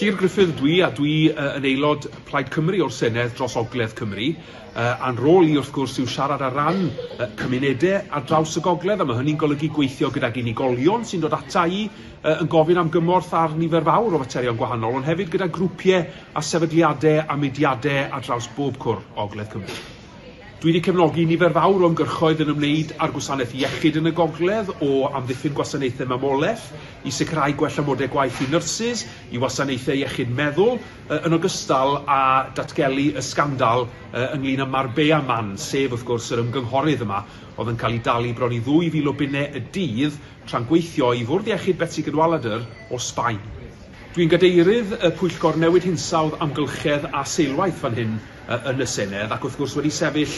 Llyr Gruffydd ydw i a dwi yn aelod Plaid Cymru o'r Senedd dros Ogledd Cymru. A'n rôl i wrth gwrs yw siarad ar ran cymunedau ar draws y gogledd a mae hynny'n golygu gweithio gydag unigolion sy'n dod ata i yn gofyn am gymorth ar nifer fawr o faterion gwahanol ond hefyd gyda grwpiau a sefydliadau a mudiadau ar draws bob cwr o Ogledd Cymru. Dwi wedi cefnogi nifer fawr o ymgyrchoedd yn ymwneud â'r gwasanaeth iechyd yn y gogledd, o amddiffyn gwasanaethau mamolaeth, i sicrhau gwell amodau gwaith i nyrsys, i wasanaethau iechyd meddwl, yn ogystal â datgelu y sgandal ynglŷn â Marbella Man, sef, wrth gwrs, yr ymgynghorydd yma oedd yn cael ei dalu bron i 2,000 o bunnau y dydd tra'n gweithio i Fwrdd Iechyd Betsi Cadwaladr o Sbaen. Dwi'n Gadeirydd y Pwyllgor Newid Hinsawdd, Amgylchedd a Seilwaith fan hyn. yn y Senedd ac wrth gwrs wedi sefyll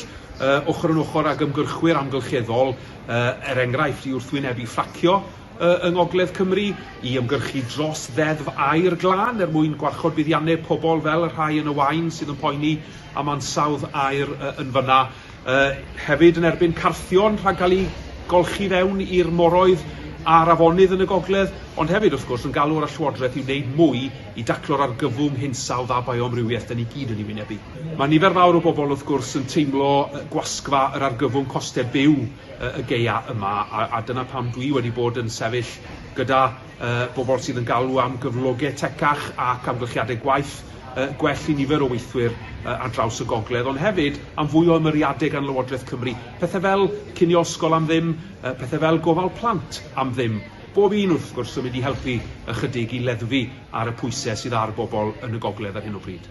ochr yn ochr ag ymgyrchwyr amgylcheddol, er enghraifft, i wrthwynebu ffracio yng Ngogledd Cymru, i ymgyrchu dros Ddeddf Aer Glân er mwyn gwarchod buddiannau pobl fel y rhai yn y Waun sydd yn poeni am ansawdd aer yn fan'na. Hefyd yn erbyn carthion rhag cael eu golchi fewn i'r moroedd a'r afonydd yn y gogledd, ond hefyd, wrth gwrs, yn galw ar y Llywodraeth i wneud mwy i daclo'r argyfwng hinsawdd a bioamrywiaeth da ni gyd yn ei wynebu. Mae nifer fawr o bobl, wrth gwrs, yn teimlo gwasgfa yr argyfwng costau byw y gaeaf yma, a dyna pam dwi wedi bod yn sefyll gyda y bobl sydd yn galw am gyflogau tecach ac amgylchiadau gwaith gwell i nifer o weithwyr ar draws y gogledd, ond hefyd am fwy o ymyriadau gan Lywodraeth Cymru, pethau fel cinio ysgol am ddim, pethau fel gofal plant am ddim, bob un wrth gwrs yn mynd i helpu ychydig i leddfu ar y pwysau sydd ar bobl yn y gogledd ar hyn o bryd.